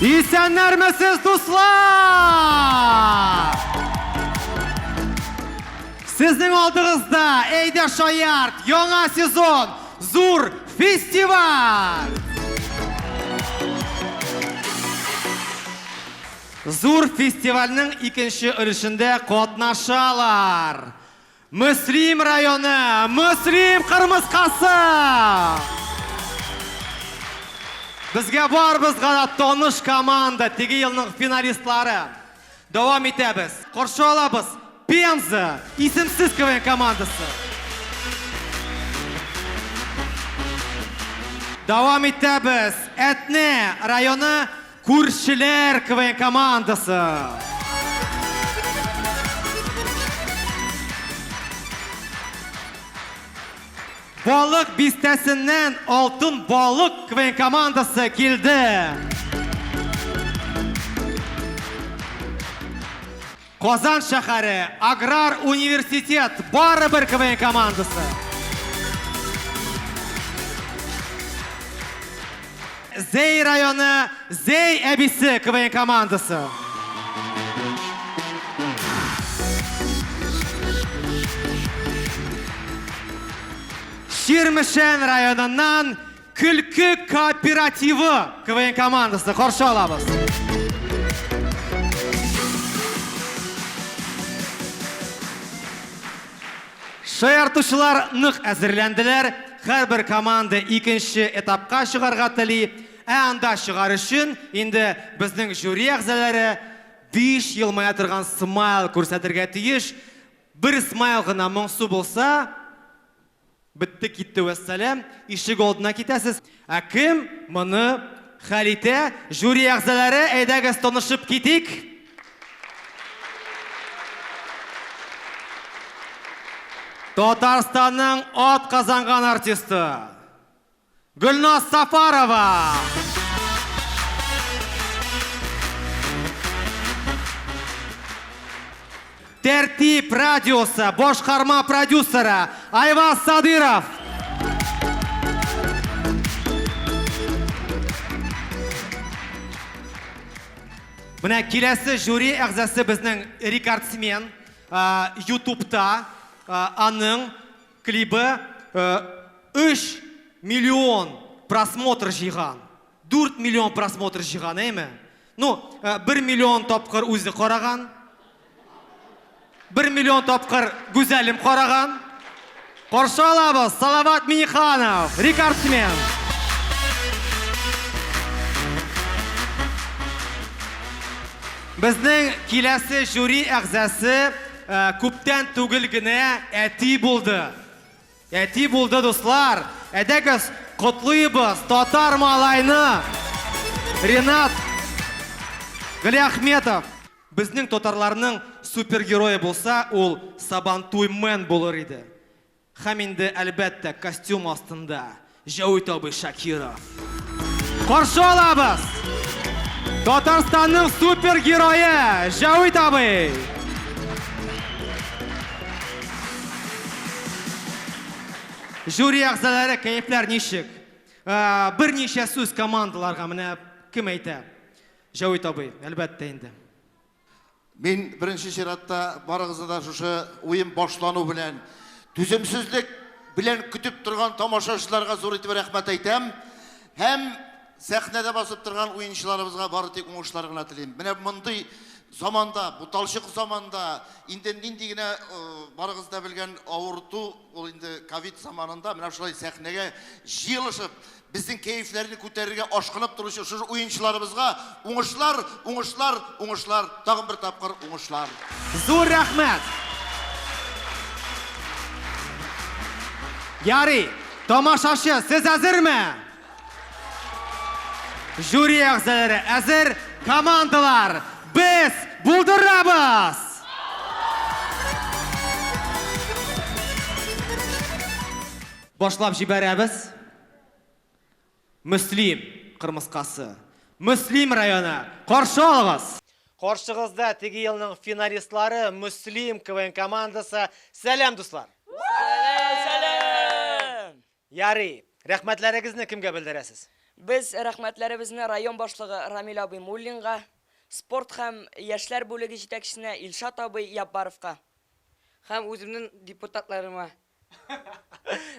Исәннәрмесез, дуслар! Сезнең алдыгызда Әйдә Шаярт, яңа сезон, зур фестиваль! Зур фестивальнең икенче өлешендә катнашалар Мөслим районы Мөслим кырмыскасы! Безгә барыбызга да таныш команда, теге елның финалистлары. Дәвам итәбез. Каршы алабыз Пенза исемсез КВН командасы. Дәвам итәбез. Әтнә районы Күршеләр КВН командасы! Балык бистәсеннән Алтын балык КВН командасы килде! Казан шәхәре Аграр университет барыбер КВН командасы. Зәй районы Зәй әбисе КВН командасы. Чирмешән районыннан Көлке кооперативы КВН командасы каршы алабыз. Шаяртучылар нык әзерләнделәр. Һәрбер команда икенче этапка чыгарга тели. Ә анда чыгар өчен инде безнең жюри әгъзалары биш елмая торган смайл күрсәтергә тиеш. Бер смайл гына моңсу булса, Бетте китте вәссәлам, ишек алдына китәсез. Ә кем моны хәл итә? Жюри әгъзалары, әйдәгез танышып китик. Татарстанның атказанган артисты. Гөлназ Сафарова! Тәртип радиосы башкарма продюсеры Айваз Садыров! Менә киләсе жюри әгъзасы безнең рекордсмен, ютубта аның Клибы 3 миллион просмотр җыйган. 4 миллион просмотр җыйган, әйме? Ну, 1 миллион тапкыр үзе караган. 1 миллион тапкыр Гүзәлем караган. Каршы алабыз, Салават Миниханов, рекордсмен. Безнең киләсе жюри әгъзасы. Күптән түгел генә әти булды. Әти булды, дуслар. Әдәгез, котлыйбыз татар малайны! Ренат Галиахметов! Безнең татарларның супергерое булса, ул Сабантуй Мэн булыр иде. Һәм инде, әлбәттә, костюм астында Җәвит абый Шакиров. Каршы алабыз! Татарстанның супер герое Җәвит абый! Жюри әгъзалары кәефләр ничек? Ә, берничә сүз командаларга менә кем әйтә? Җәвит абый, әлбәттә инде. Мин беренче чиратта барыгызны да шушы уен башлану белән түземсезлек белән көтеп торган тамашачыларга зур итеп рәхмәт әйтәм. Һәм сәхнәдә басып торган уенчыларыбызга бары тик уңышлар гына телим. Менә мондый заманда, буталчык заманда, инде нинди генә э, барыгыз да белгән авырту, ул инде ковид заманында менә шулай сәхнәгә җыелышып, Безнең кәефләрне күтәрергә ашкынып торучы шушы уенчыларыбызга уңышлар, уңышлар, уңышлар, тагын бер тапкыр уңышлар! Зур рәхмәт! Ярый, тамашачы, сез әзерме? Жюри әгъзалары әзер, командалар, без булдырабыз! Башлап җибәрәбез Мөслим кырмыскасы. Мөслим районы, каршы алыгыз! Каршыгызда теге елның финалистлары Мөслим КВН командасы. Сәлам, дуслар! Сәлам! Ярый, рәхмәтләрегезне кемгә белдерәсез? Без рәхмәтләребезне район башлыгы Рамил абый Муллинга, спорт һәм яшьләр бүлеге җитәкчесенә Илшат абый Яббаровка, һәм үземнең депутатларыма,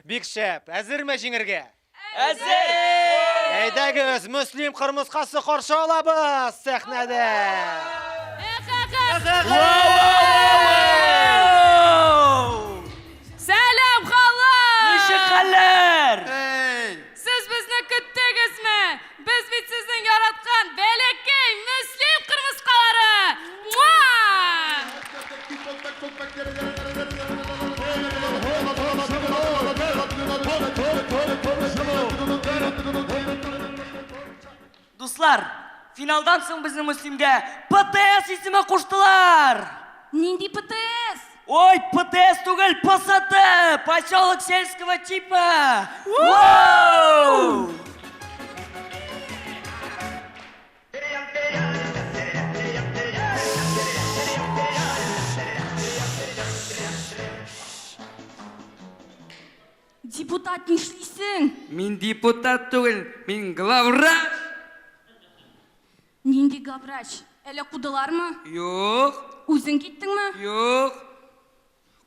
Бик шәп. Әзерме җиңергә? Әзер! Әйдәгез, Мөслим Кырмыскасы каршы алабыз сәхнәдә. Сәлам, халык! Ничек хәлләр? Сез безне көттегезме? Без бит сезнең яраткан бәләкәй Мөслим кырмыскалары! Муа! Дуслар, финалдан соң безнең Мөслимгә ПТС исеме куштылар! Нинди ПТС? Ой, ПТС түгел, ПСТ! Поселок сельского типа! Уу! Депутат нишлисең? Мин депутат түгел, мин главврач! Нинди главврач? Әле кудылармы? Юк. Үзең киттеңме? Юк.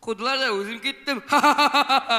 Кудылар да үзем киттем. Ха-ха-ха-ха-ха!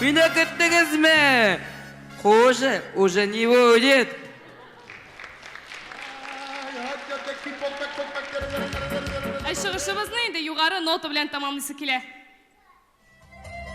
Мине көттегезме? Хуже, уже не будет. Ә чыгышыбызны инде югары нота белән тәмамлыйсы килә.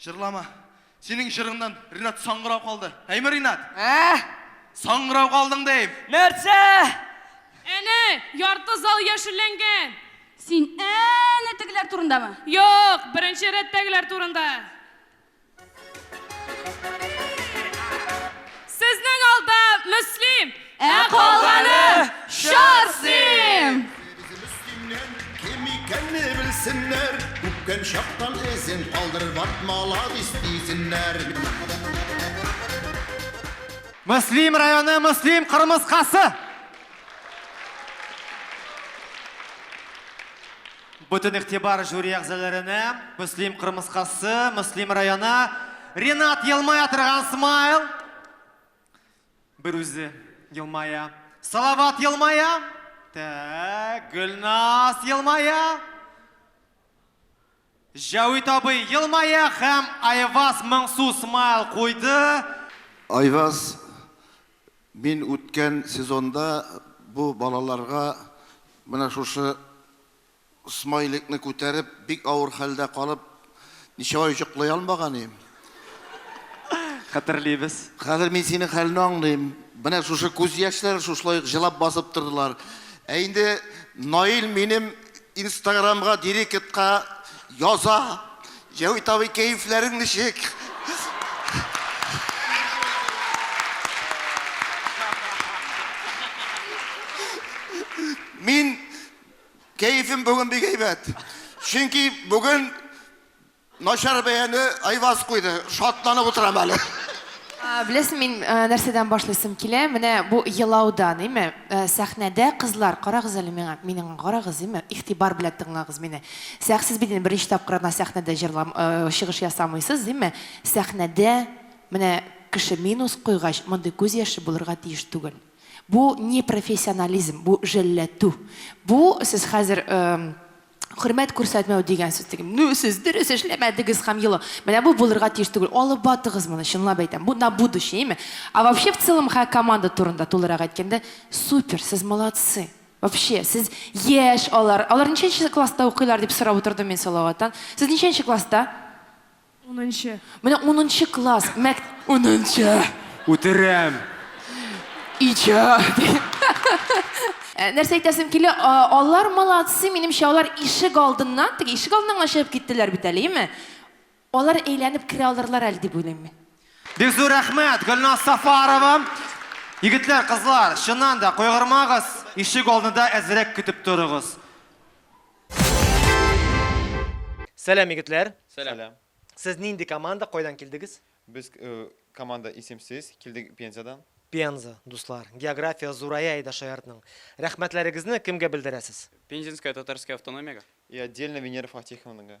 Җырлама. Синең җырыңнан Ринат саңгырау калды. Әйме, Ринат? Ә? Саңгырау калдың дим. Нәрсә? Әнә, ярты зал яшелләнгән. Син әнә тегеләр турындамы? Юк, беренче рәттәгеләр турында. Сезнең алда Мөслим! Ә калганы Шарсим! Без Мөслимнән кем икәнне белсеннәр, Үпкән чактан эзен калдырыр ват маладис дисеннәр. Мөслим районы Мөслим кырмыскасы! Бөтен игътибар жюри әгъзаләренә, Мөслим кырмыскасы, Мөслим районы, Ринат елмая торган смайл, бер үзе елмая, Салават елмая, тәк, Гөлназ елмая, Җәвит абый елмая һәм Айваз моңсу смайл куйды. Айваз Мин үткән сезонда бу балаларга менә шушы смайликны күтәреп, бик авыр хәлдә калып, ничә ай җоклый алмаган идем. Хәтерлибез. Хәзер мин синең хәлне аңлыйм. Менә шушы күз яшьләр шушылай ук җылап басып тордылар. Ә инде Наил минем. Инстаграмга директка яза. Җәвит абый, кәефләрең ничек? Мин кәефем бүген бик әйбәт. Чөнки бүген Начар бәяне Айваз куйды, шатланып утырам әле. Беләсең, мин нәрсәдән башлыйсым килә? Менә бу елаудан, име? Сәхнәдә кызлар, карагыз әле миңа, минең карагыз, име? Игътибар белән тыңлагыз мине. Сәх, сез бит инде беренче тапкыр гына сәхнәдә җырлам, чыгыш ясамыйсыз, име? Сәхнәдә менә кеше минус куйгач, мондый күз яше булырга тиеш түгел. Бу не профессионализм, бу җәлләтү. Бу сез хәзер хөрмәт күрсәтмәү дигән сүз теге ну сез дөрес эшләмәдегез һәм елы менә бу булырга тиеш түгел алып батыгыз моны чынлап әйтәм бу на будущее ме а вообще в целом ха команда турында тулырак әйткәндә супер сез молодцы вообще сез яшь алар алар ничәнче класста укыйлар дип сорап утырдым мин салаваттан сез ничәнче класста Унынчы. Менә унынчы класс, мәк... Унынчы! Үтерәм! Иҗат! Э, нәрсә әйтәсем килә, алар молодцы, минемчә, алар ишек алдыннан, теге ишек алдыннан гына чыгып киттеләр бит әле, яме? Алар әйләнеп керә алырлар әле дип уйлыйм мин. Бик зур рәхмәт, Гөлназ Сафарова. Егетләр, кызлар, чыннан да, кайгырмагыз, ишек алдында әзрәк көтеп торыгыз. Сәлам, егетләр! Сәлам. Сез нинди команда, кайдан килдегез? Без э, команда исемсез, килдек Пензадан. Пенза, дуслар. География зурая иде шаяртның. Рәхмәтләрегезне кемгә белдерәсез? Пензенская татарская автономияга. И отдельно Венера Фатиховнага.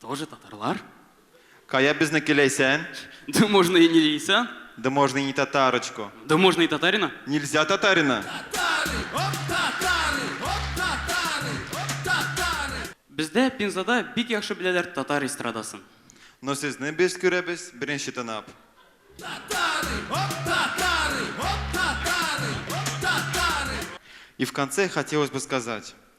Тоже татарлар. Кая безнеке Ләйсән? Да можно и не Лейсан. Да можно и не татарочку. Да можно и татарина. Нельзя татарина. Бездә Пензада бик яхшы беләләр татар эстрадасын. Но сезне без күрәбез беренче тынап. И в конце хотелось бы сказать.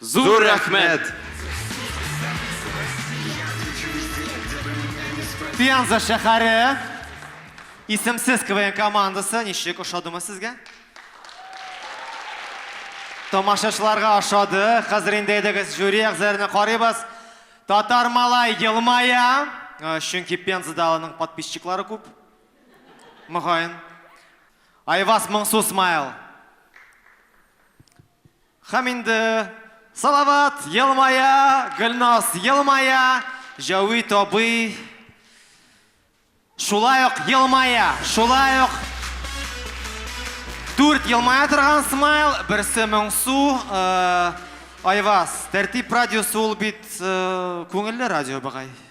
Зур рәхмәт! Пенза шәһәре исемсез КВН командасы ничек ошадымы сезгә? Тамашачыларга ошады. Хәзер инде әйдәгез жюри әгъзаларына карыйбыз. Татар малай елмая, э, чөнки Пензада аның подписчиклары күп. Мөгаен. Айваз моңсу смайл. Һәм инде Салават елмая, Гөлназ елмая, Җәвит абый шулай ук елмая, шулай ук Дүрт елмая торган смайл, берсе моңсу. Э, Айваз, тәртип радиосы ул бит э, күңелле радио быгай.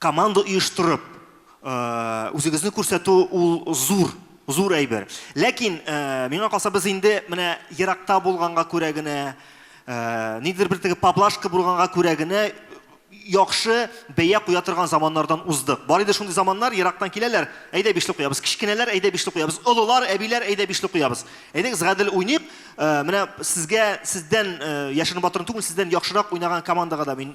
Команда оештырып, үзегезне күрсәтү ул зур, зур әйбер. Ләкин миңа калса без инде менә еракта булганга күрә генә, ниндидер бер теге поблажка булганга күрә генә яхшы бәя куя торган заманнардан уздык. Бар иде шундый заманнар, ерактан киләләр, әйдә бишле куябыз, кечкенәләр, әйдә бишле куябыз, олылар, әбиләр, әйдә бишле куябыз. Әйдәгез гадел уйныйк, менә сезгә, сездән, Яшерен-батырын түгел, сездән яхшырак уйнаган командага да мин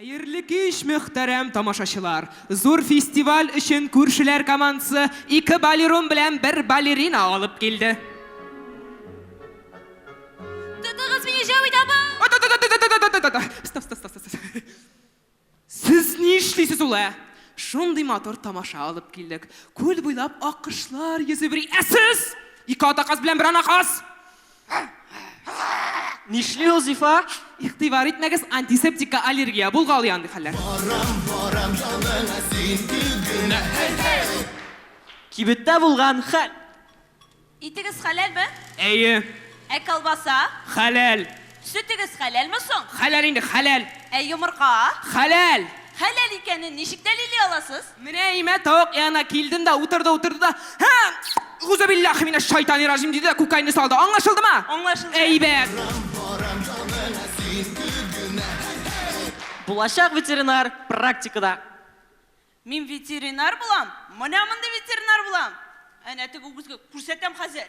Хәерле кич, мөхтәрәм тамашачылар! Зур фестиваль өчен күршеләр командасы ике балерун белән бер балерина алып килде. Тотыгыз мине, Җәвит абый! Та-та-та-та-та-та-та-та-та-та! Стоп, стоп, стоп, стоп, стоп. Сез ни эшлисез ул, ә? Шундый матур тамаша алып килдек. Күл буйлап аккошлар йөзеп йөри, ә сез, ике атаказ белән бер анаказ! Нишли ул зифа? Игътибар итмәгез, антисептикка аллергия булгалый андый хәлләр. Барам, барам яныңа син түгенә. Кибеттә булган хәл. Итегез хәләлме? Әйе. Ә колбаса? Хәләл. Сөтегез хәләлме соң? Хәләл инде, хәләл. Ә йомырка? Хәләл. Хәләл икәнен ничек дәлилли аласыз? Менә имә тавык янына килдем дә, утырды, утырды да, Һә! Гузубиллахи минәш шайтани ражим, диде дә күкәйне салды. Аңлашылдымы? Аңлашылды. Әйбәт. Булачак ветеринар практикада. Мин ветеринар булам, менә мондый ветеринар булам. Әнә теге үгезгә күрсәтәм хәзер.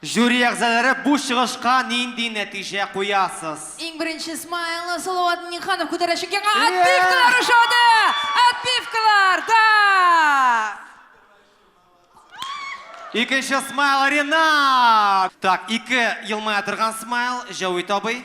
Жюри әгъзалары бу чыгышка нинди нәтиҗә куясыз? Иң беренче смайлны Салават Миңнеханов күтәрәчәк яңа отбивкалар ошады! Отбивкалар, да! Икенче смайл Ринат! Так, ике елмая торган смайл, Җәвит абый.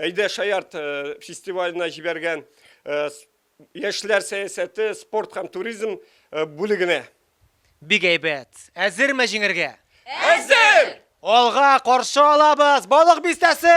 Әйдә шаярт фестиваленә җибәргән яшьләр сәясәте, спорт һәм туризм бүлегенә. Бик әйбәт! Әзерме җиңергә? Әзер! Алга, каршы алабыз! Балык бистәсе!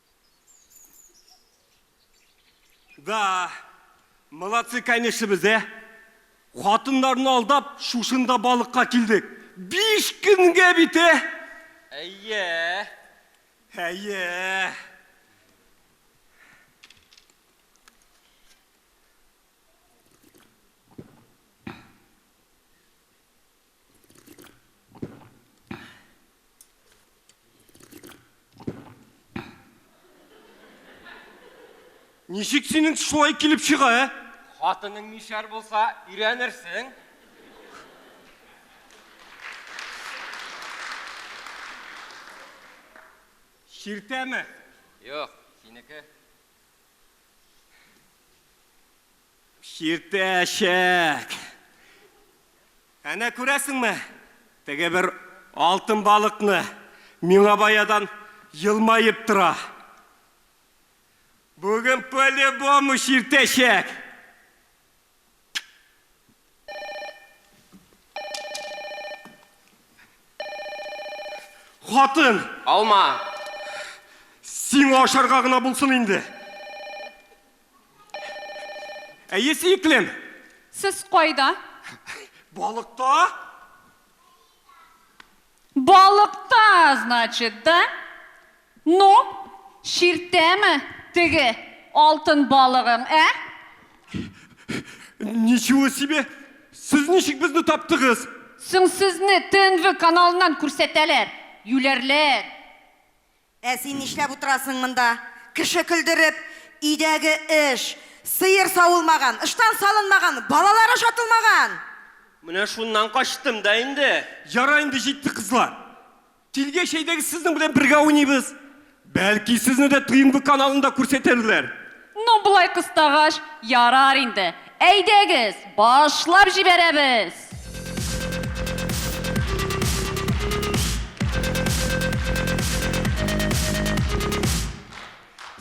Да, молодцы, конечно, без, ә? Хатыннарны алдап, шушында балыкка килдек. Биш көнгә бит, ә? Әйе. Әйе. Ничек синең шулай килеп чыга, ә? Хатының мишәр булса, өйрәнерсең. Чиртәме? Юк, синеке. Чиртәчәк! Әнә күрәсеңме, теге бер алтын балыкны, миңа баядан елмаеп тора. Бүген по-любому чиртәчәк! Хатын! Алма! Сиңа ашарга гына булсын инде! Әйе, сөеклем! Сез кайда? Балыкта! Балыкта, значит, да? Ну, чиртәме теге алтын балыгың, ә? Ничего себе! Сез ничек безне таптыгыз? Соң сезне ТНВ каналыннан күрсәтәләр, юләрләр. Ә син нишләп утырасың монда, кеше көлдереп, өйдәге эш, сыер савылмаган, ыштан салынмаган, балалар ашатылмаган! Менә шуннан качтым да инде. Ярар инде, җитте, кызлар. Килгәч, әйдәгез сезнең белән бергә уйныйбыз. Бәлки, сезне дә ТНВ каналында күрсәтерләр. Ну, болай кыстагач, ярар инде. Әйдәгез, башлап җибәрәбез!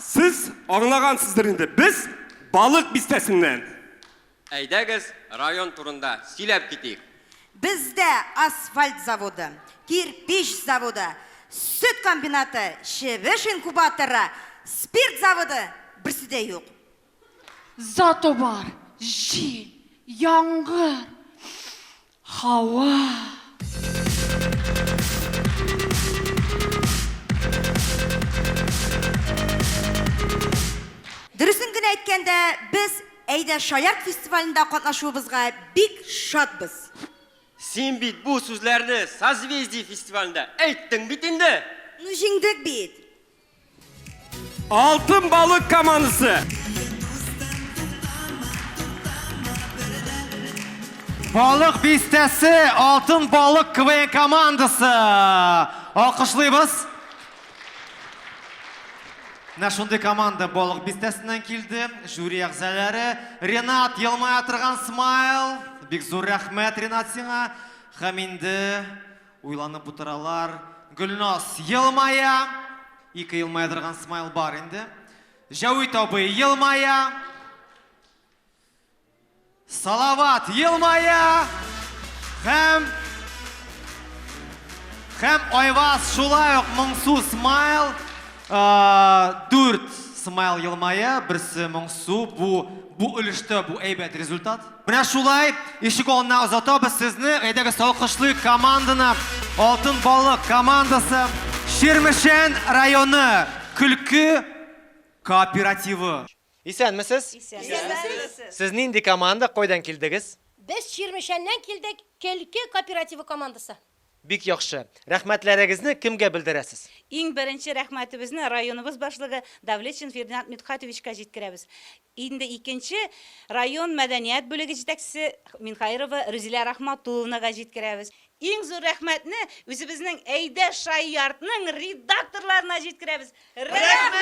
Сез аңлагансыздыр инде, без Балык Бистәсеннән. Әйдәгез, район турында сөйләп китик. Бездә асфальт заводы, кирпич заводы, сөт комбинаты, чебеш инкубаторы, спирт заводы, берсе дә юк. Зато бар, җил, яңгыр, Хава! Дөресен генә әйткәндә, без Әйдә шаярт фестивалендә катнашуыбызга бик шатбыз! Син бит бу сүзләрне Созвездие фестивалендә әйттең бит инде! Ну җиңдек бит! Алтын балык командасы. Балык бистәсе, алтын балык КВН командасы. Алкышлыйбыз. Менә шундый команда балык бистәсеннән килде. Жюри әгъзалары Ренат елмая торган смайл. Бик зур рәхмәт Ренат сиңа. Һәм инде Уйланып утыралар. Гөлназ елмая. Ике елмая торган смайл бар инде. Җәвит абый елмая. Салават елмая. Һәм... Һәм Айваз шулай ук моңсу смайл. Дүрт смайл елмая, берсе моңсу. Бу өлештә бу әйбәт результат. Менә шулай, ишек алдына озатабыз сезне. Әйдәгез алкышлыйк команданы. Алтын балык командасы. Чирмешән районы көлке кооперативы. Исәнмесез! Исәнмесез! Сез нинди команда, кайдан килдегез? Без Чирмешәннән килдек, көлке кооперативы командасы. Бик яхшы. Рәхмәтләрегезне кемгә белдерәсез? Иң беренче рәхмәтебезне районыбыз башлыгы Давлетшин Фердинанд Мидхатовичка җиткерәбез. Инде икенче район мәдәният бүлеге җитәкчесе Минхаирова Рүзилә Рахматулловнага җиткерәбез. Иң зур рәхмәтне үзебезнең Әйдә Шаиартның редакторларына җиткерәбез. Рәхмәт,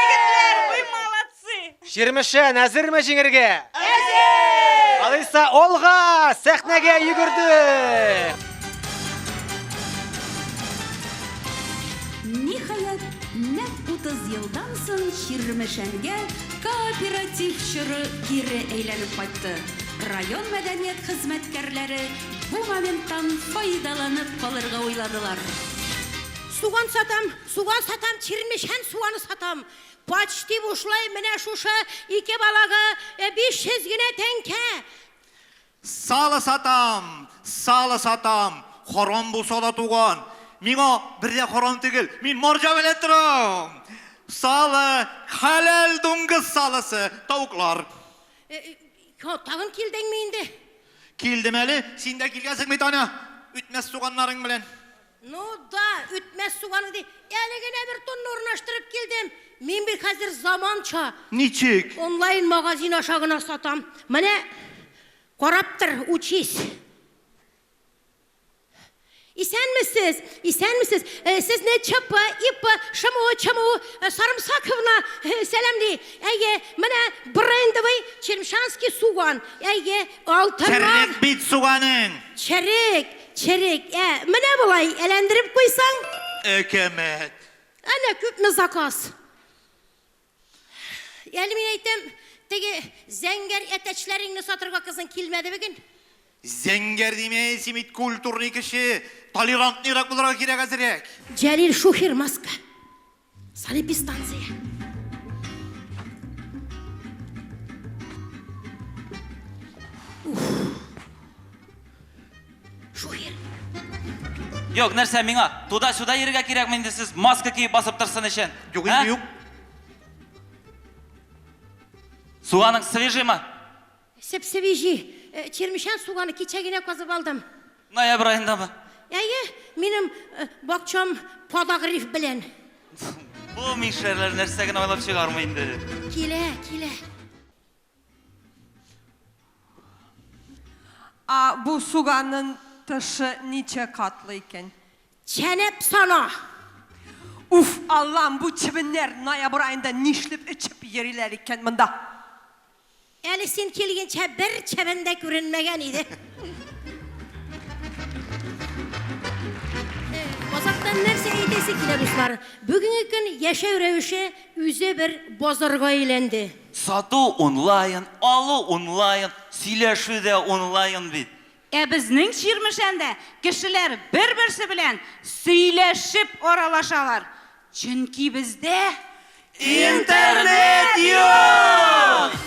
егетләр, вы молодцы! Чирмешән әзерме җиңергә? Әзер! Алайса, алга! Сәхнәгә йөгердек! Ниһаять, Нәкъ 30 елдан соң Чирмешәнгә кооператив чоры кире әйләнеп кайтты. Район мәдәният хезмәткәрләре бу моменттан файдаланып калырга уйладылар. Суган сатам, суган сатам, Чирмешән суганы сатам. Почти бушлай менә шушы ике балага 500 генә тәңкә. Сало сатам, сало сатам, харам булса да туган. Миңа бер дә харам түгел, мин марҗа белән торам. Сало, хәләл дуңгыз салосы, тавыклар. Тагын килдеңме инде? Килдем әле, син дә килгәнсең бит, Аня, үтмәс туганнарың белән. Ну да, үтмәс суганы ди. Әле генә бер тонна урнаштырып килдем. Мин бит хәзер заманча. Ничек? Онлайн магазин аша гына сатам. Менә карап тор, учись. Исәнмесез, исәнмесез. Э, Сезне ЧП, ИП, ШМУ, ЧМУ э, Сарымсаковна э, сәламли. Әйе, менә брендовый Черемшанский суган. Әйе, алтыннан Черек бит суганың. черек. Черек, ә, менә болай, әләндереп куйсаң. Әкәмәт. Әнә күпме заказ. Әле мин әйтәм, теге зәңгәр әтәчләреңне сатырга кызың килмәде бүген. Зәңгәр диме, син бит культурный кеше. Толерантныйрак булырга кирәк әзерәк. Җәлил шухер маска. Санэпидстанция. Шухер. Юк, нәрсә миңа? Туда-сюда йөрергә кирәкме инде сез маска киеп басып торсын өчен? Юк, инде юк. Суганың свежимы? Сеп-севиҗи, чирмешән суганы кичә генә казып алдым. Ноябрь аендамы? Әйе, минем бакчам подогрев белән. Бу мишәрләр нәрсә генә уйлап чыгармый инде. Килә, килә. А бу суганын тышы ничә катлы икән? Чәнәп сана! Уф, Аллам, бу чебеннәр ноябрь аенда нишлеп эчеп йөриләр икән монда? Әле син килгенчә бер чәбән дә күренмәгән иде. Базардан нәрсә әйтәсе килә, дуслар? Бүгенге көн яшәү рәвеше үзе бер базарга әйләнде. Сату онлайн, алу онлайн, сөйләшү дә онлайн бит. Ә безнең Чирмешәндә кешеләр бер-берсе белән сөйләшеп аралашалар, чөнки бездә Интернет юк!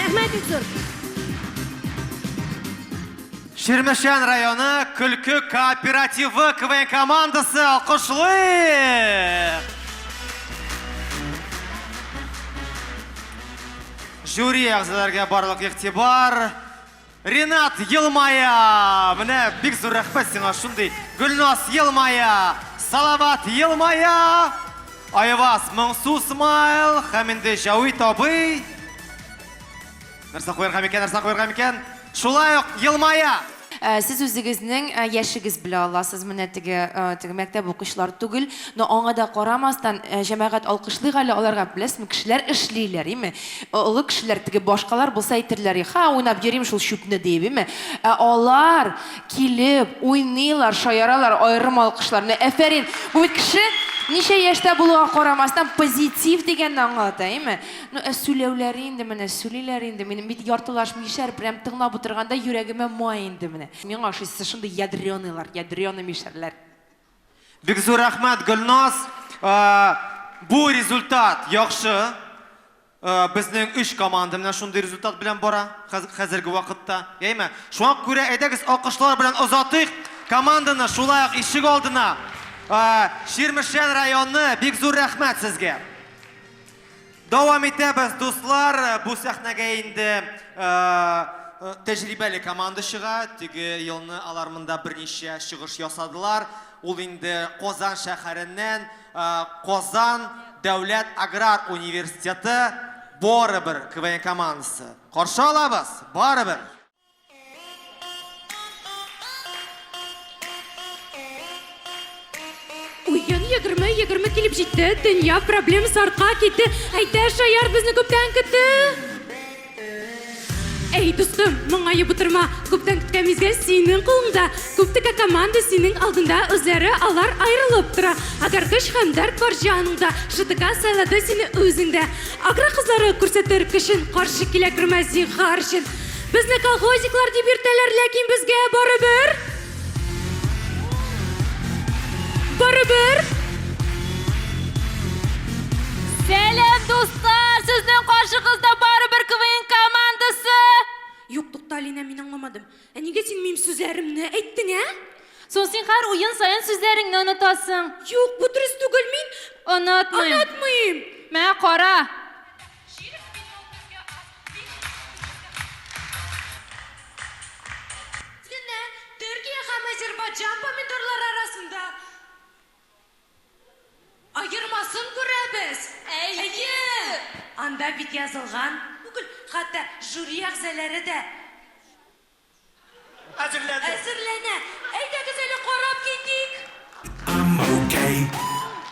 Рәхмәт бик зур! Чирмешән районы көлке кооперативы КВН командасы алкышлыйк! Жюри әгъзаләргә барлык игътибар! Ренат, елмая! Менә бик зур рәхмәт сиңа шундый. Гөлназ, елмая! Салават, елмая! Айваз, моңсу смайл! Һәм инде Җавит абый. Нәрсә куярга микән, нәрсә куярга микән? Шулай ук елмая! Э, сез үзегезнең э, яшегез белә аласыз менә теге э, теге мәктәп укучылар түгел но аңа да карамастан җәмәгать алкышлыйк әле аларга беләсезме кешеләр эшлиләр име Ә олы кешеләр, теге башкалар булса әйтерләр и, Ха, уйнап йөрим шул чүпне, диеп, име? Ә алар килеп, уйныйлар, шаяралар, аерым алкышлар. Менә әфәрин! Бу бит кеше ничә яшьтә булуга карамастан, позитив дигәнне аңлата, име? Ну, ә сүләүләре инде менә, сүлиләр инде. Минем бит яртылаш мишәр, прям тыңлап утырганда йөрәгемә май инде менә. Миңа ошыйсы, шундый ядрёныйлар, ядрёный мишәрләр. Бик зур рәхмәт, Гөлназ! Бу результат яхшы. Безнең өч команда менә шундый результат белән бара хәзерге вакытта. Яме? Шуңа күрә әйдәгез алкышлар белән озатыйк команданы, шулай ук ишек алдына. Чирмешән районы, бик зур рәхмәт сезгә! Дәвам итәбез, дуслар! Бу сәхнәгә инде тәҗрибәле команда чыга. Теге елны алар монда берничә чыгыш ясадылар. Ул инде Казан шәһәреннән Казан дәүләт аграр университеты Борыбыр КВН командасы. Каршы алабыз! Барыбер! Уен егерме егерме килеп җитте, дөнья проблемасы артка китте. Әйдә, Шаяр безне күптән көтте. Әй, дустым, моңаеп утырма, күптән көткән мизгел синең кулыңда. Күптекә команда синең алдында, үзләре алар аерылып тора. Әгәр көч һәм дәрт бар җаныңда, ШТК сайлады сине үзендә. Агра кызлары күрсәтер көчен, каршы килә кермә зинһар өчен. Безне колхозниклар дип йөртәләр, ләкин безгә барыбер. Барыбер. Сәлам, дуслар! Сезнең каршыгызда барыбер КВН командасы! Юк, тукта, Алинә, мин аңламадым. Ә нигә син минем сүзләремне әйттең, ә? Соң син һәр уен саен сүзләреңне онытасың. Юк, бу дөрес түгел, мин онытмыйм. Онытмыйм. Мә, кара. Менә Төркия һәм Азербайҗан помидорлары арасында аермасын күрәбез. Әйе! Анда бит язылган түгел, хәтта жюри әгъзаләре дә. Әзерләнде. Әзерләнә. Әйдәгез әле карап китик. I'm okay,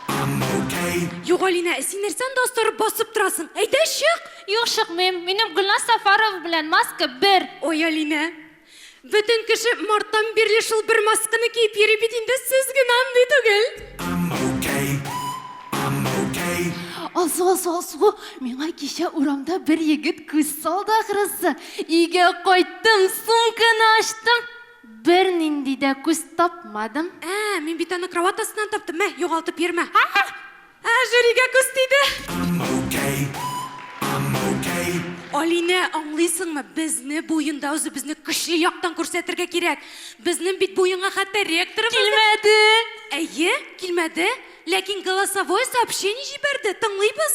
I'm okay. Юк, Алинә, син нәрсә анда астырып басып торасың? Әйдә, чык! Юк, чыкмыйм. Минем Гөлназ Сафарова белән маска бер. Ой, Алинә. Бөтен кеше марттан бирле шул бер масканы киеп йөри бит инде, сез генә андый түгел. I'm okay, I'm okay. Алсу, Алсу, Алсу, миңа кичә урамда бер егет күз салды, ахрысы. Өйгә кайттым, сумканы ачтым, бернинди дә күз тапмадым. Ә, мин бит аны кровать астыннан таптым, мә, югалтып йөрмә. Ә, жюригә күз тиде. I'm okay, I'm okay. Алинә, аңлыйсыңмы, безне бу уенда үзебезне көчле яктан күрсәтергә кирәк. Безнең бит бу уенга хәтта ректорыбыз да... Килмәде! Әйе, килмәде, ләкин голосовое сообщение җибәрде, тыңлыйбыз.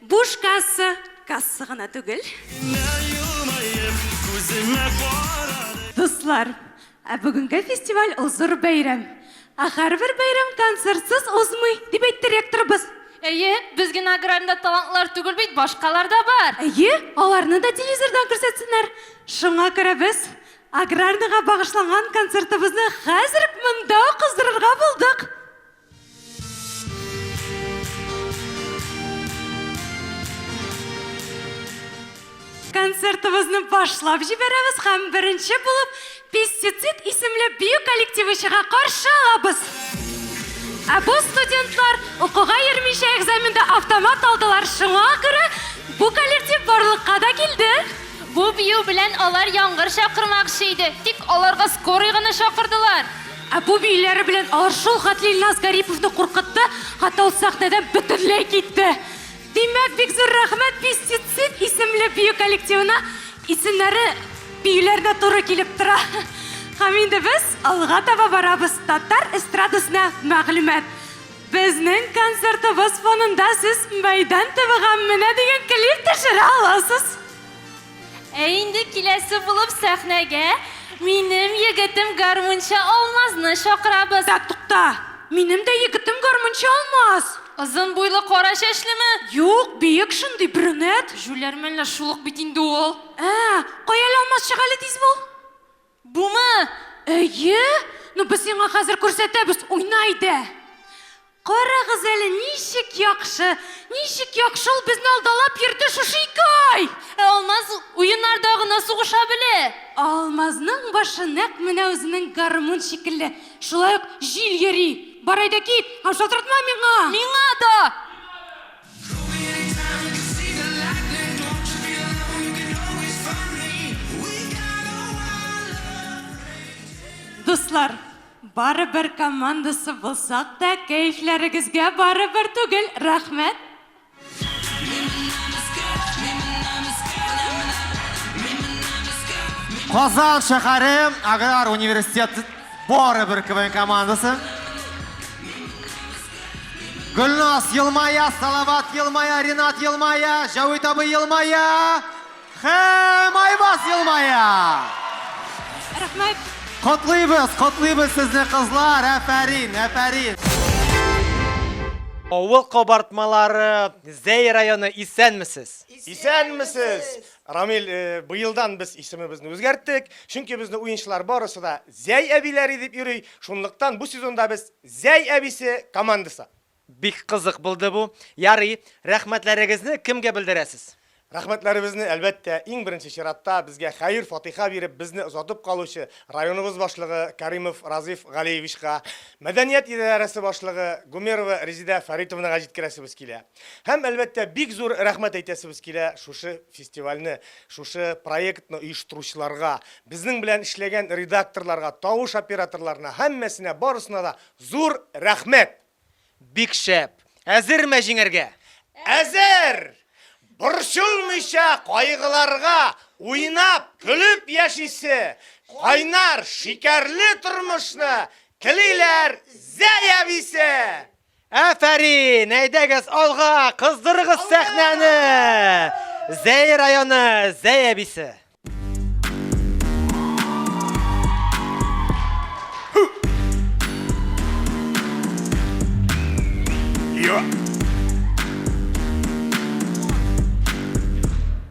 Буш касса, касса гына түгел. Дуслар, ә бүгенге фестиваль ул зур бәйрәм. Ә һәрбер бәйрәм концертсыз узмый, дип әйтте ректорыбыз. Әйе, без генә аграрийда талантлар түгел бит, башкалар да бар. Әйе, аларны да телевизордан күрсәтсеннәр. Шуңа күрә без аграрныйга багышланган концертыбызны хәзер үк монда ук уздырырга булдык. Концертыбызны башлап җибәрәбез һәм беренче булып Пестицид исемле бию коллективы чыга каршы алабыз. Ә бу студентлар укуга йөрмичә экзаменда автомат алдылар, шуңа күрә бу коллектив барлыкка да килде. Бу бию белән алар яңгыр чакырмакчы иде, тик аларга скорый гына чакырдылар. Ә бу биюләре белән алар шул хәтле Илназ Гариповны куркытты, хәтта ул сәхнәдән бөтенләй китте. Димәк, бик зур рәхмәт Пестицид исемле бию коллективына, исемнәре биюләренә туры килеп тора. Һәм инде без алга таба барабыз, татар эстрадасына мәгълүмат. Безнең концертыбыз фонында сез Мәйдан төбе һәм Менә дигән клип төшерә аласыз. Ә инде киләсе булып сәхнәгә минем егетем гармунчы Алмазны чакырабыз. Ә тукта, минем дә егетем гармунчы Алмаз. Озын буйлы, кара чәчлеме? Юк, биек шундый, брюнет. Җүләр мәллә шул ук бит инде ул. Ә, кая әле Алмаз чыга әле тиз бул. Бумы? Әйе! Ну, без сиңа хәзер күрсәтәбез, уйна иде! Карагыз әле, ничек яхшы, ничек яхшы ул безне алдалап йөрде шушы ике ай! Ә Алмаз уеннарда гына сугыша белә. Алмазның башы нәкъ менә үзенең гармун шикелле, шулай ук җил йөри. Бар әйдә кит һәм шалтыратма миңа! Миңа да! Дуслар, барыбер командасы булсак та, кәефләрегезгә барыбер түгел, рәхмәт! Казан шәһәре аграр университеты барыбер КВН командасы. Гөлназ елмая, Салават елмая, Ринат елмая, Җәвит абый елмая һәм Айбаз елмая. Рәхмәт. Котлыйбыз, котлыйбыз сезне кызлар, әфәрин, әфәрин. Авыл кабартмалары, Зәй районы, исәнмесез! Исәнмесез! Рамил, э, быелдан без исемебезне үзгәрттек, чөнки безне уенчылар барысы да Зәй әбиләре дип йөри, шунлыктан бу сезонда без Зәй әбисе командасы. Бик кызык булды бу. Ярый, рәхмәтләрегезне кемгә белдерәсез? Рәхмәтләребезне, әлбәттә, иң беренче чиратта безгә хәер-фатыйха биреп, безне озатып калучы районыбыз башлыгы Кәримов Разиф Галиевичка, мәдәният идарәсе башлыгы Гумерова Резидә Фәритовнага җиткерәсебез килә. Һәм, әлбәттә, бик зур рәхмәт әйтәсебез килә шушы фестивальне, шушы проектны оештыручыларга, Безнең белән эшләгән редакторларга, тавыш операторларына, һәммәсенә, барысына да зур рәхмәт! Бик шәп! Әзерме җиңәргә? Әзер! Борчылмыйча кайгыларга, уйнап, көлеп яшисе, кайнар, шикәрле тормышны телиләр Зәя әбисе! Әфәрин! Әйдәгез алга, кыздырыгыз сәхнәне! Зәй районы, Зәй әбисе. Yeah.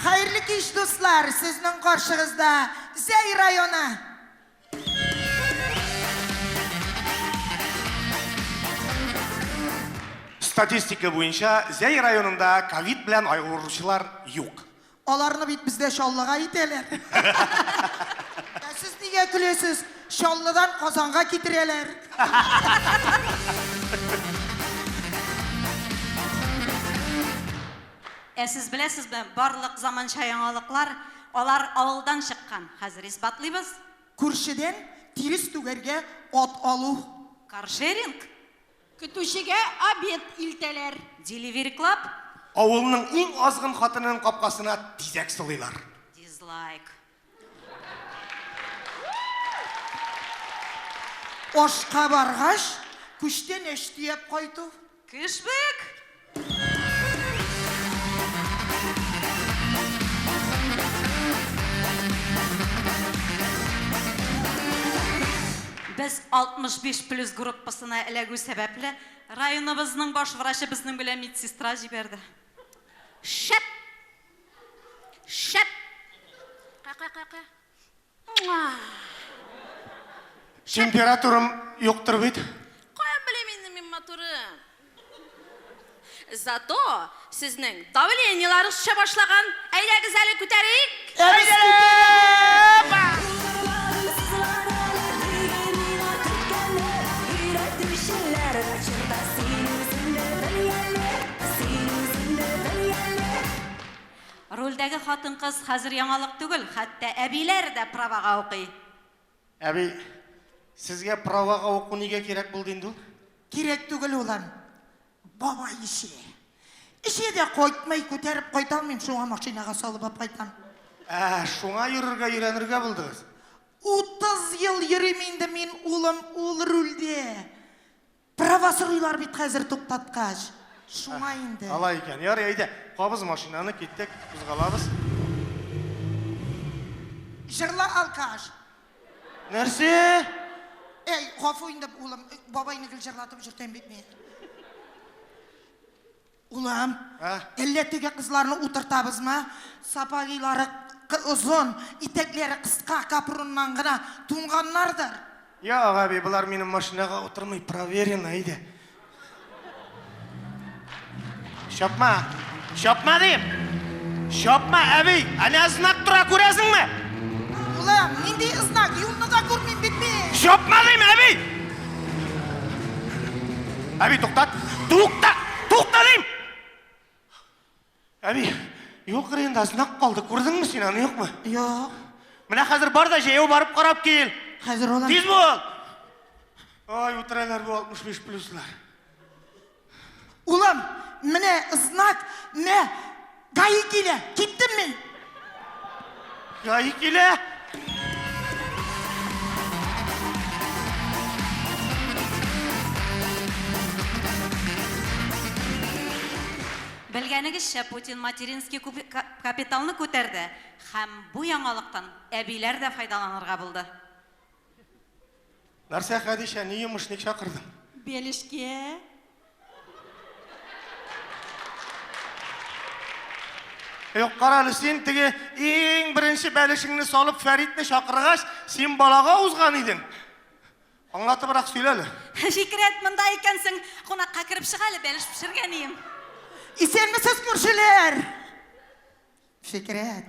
Хәерле кич дуслар, сезнең каршыгызда Зәй районы! Статистика буенча Зәй районында ковид белән айгыручылар юк. Аларны бит бездә Чаллыга итәләр. Ә сез нигә көләсез? Чаллыдан Казанга китерәләр. Ә сез беләсезме, барлык заманча яңалыклар, алар авылдан чыккан. Хәзер исбатлыйбыз. Күршедән тирес түгәргә ат алу. Каршеринг. Көтүчегә обед илтәләр. Деливериклап. Авылның иң азгын хатынының капкасына тизәк сылыйлар. Дизлайк. Ашка баргач, күчтәнәч төяп кайту. Кешбек! Без 65 плюс группасына эләгү сәбәпле, районыбызның баш врачы безнең белән медсестра җибәрде. Шәп! Шәп! Ка-ка-ка-ка. Муа! Температурам юктыр бит. Каян белим инде мин матурым. Зато сезнең давлениеларыгыз төшә башлаган. Әйдәгез әле күтәрик. Син үзеңне бел әле. Рольдәге хатын-кыз хәзер яңалык түгел, хәтта әбиләр дә правага укый. Әби, сезгә правага уку нигә кирәк булды инде ул? Кирәк түгел, улым. Бабай эчә. Эчә дә кайтмый, күтәреп кайта алмыйм, шуңа машинага салып алып кайтам. Ә, шуңа йөрергә өйрәнергә булдыгыз? Утыз ел йөрим инде мин, улым, ул рульдә. Права сорыйлар бит хәзер туктаткач. Шуңа инде. Алай икән. Ярый, әйдә. Кабыз машинаны, киттек, кузгалабыз. Җырла алкаш. Нәрсә? Әй, гафу инде, улым, бабайны гел җырлатып йөртәм бит мин. Улым, әллә теге кызларны утыртабызмы? Сапогилары озын, итәкләре кыска, капроннан гына туңганнардыр. Юк, әби, болар минем машинага утырмый, проверено иде. Чапма! Чапма, дим! Чапма, әби! Әнә знак тора, күрәсеңме? Улым, нинди знак? Юлны да күрмим бит мин! Чапма, дим, әби! Әби, туктат! Тукта! Тукта дим! Әби, юк рында знак калды, күрдеңме син аны, юкмы? Юк. Менә хәзер бар да җәяү барып карап кил. Хәзер улым. Тиз бул! Ай, үтерәләр бу 65 плюслар. Улым, менә знак, мә, гаи килә, киттем мин. Гаи килә. Белгәнегезчә, Путин материнский капиталны күтәрде һәм бу яңалыктан әбиләр дә файдаланырга булды. Нәрсә, Хәдичә, ни йомыш, ник чакырдың? Белешкә. Юк, карале, син теге иң беренче бәлешеңне салып Фәритне чакыргач, син балага узган идең. Аңлатыбрак сөйләле. Фикрәт, монда икәнсең, кунакка кереп чык әле, бәлеш пешергәнием. Исәнмесез, күршеләр! Фикрәт.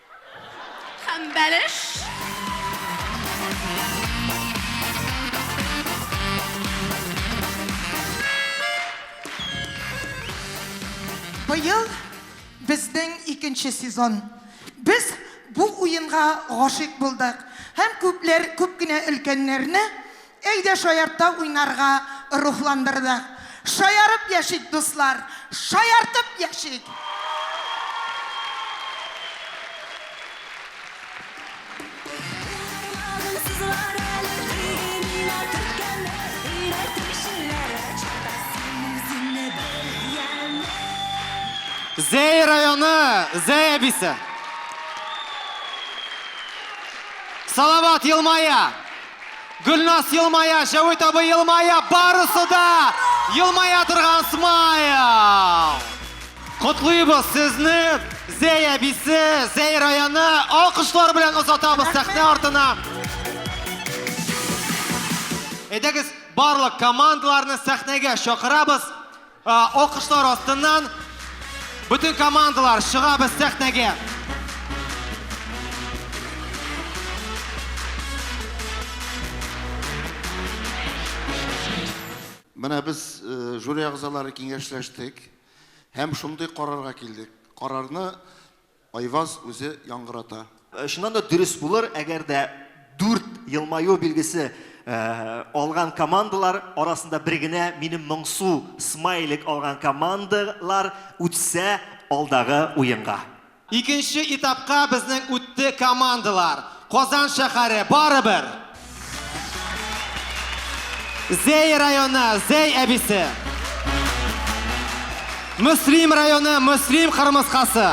Һәм бәлеш. Быел безнең икенче сезон. Без бу уенга гашыйк булдык һәм күпләр, күп кенә өлкәннәрне Әйдә шаяртта уйнарга рухландырды. Шаярып яшик, дуслар, шаяртып яшик! Зәй районы Зәй әбисе. Салават елмая. Гөлназ елмая, Җәвит абый елмая, барысы да елмая торган смайл! Котлыйбыз сезне, Зәй әбисе, Зәй районы, алкышлар белән озатабыз сәхнә артына. Әйдәгез, барлык командаларны сәхнәгә чакырабыз. Алкышлар астыннан бөтен командалар чыгабыз сәхнәгә. Менә без жюри әгъзалары киңәшләштек һәм шундый карарга килдек. Карарны Айваз үзе яңгырата. Чыннан да дөрес булыр, әгәр дә дүрт елмаю билгесе алган командалар арасында бер генә минем моңсу смайлик алган командалар үтсә алдагы уенга. Икенче этапка безнең үтте командалар. Казан шәһәре, барыбер! Зәй районы, Зәй әбисе. Мөслим районы, Мөслим кырмыскасы.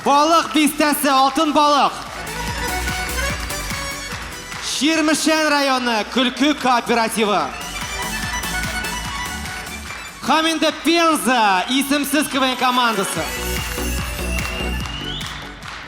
Балык бистәсе, Алтын балык. Чирмешән районы, Көлке кооперативы. Һәм инде Пенза, исемсез КВН командасы.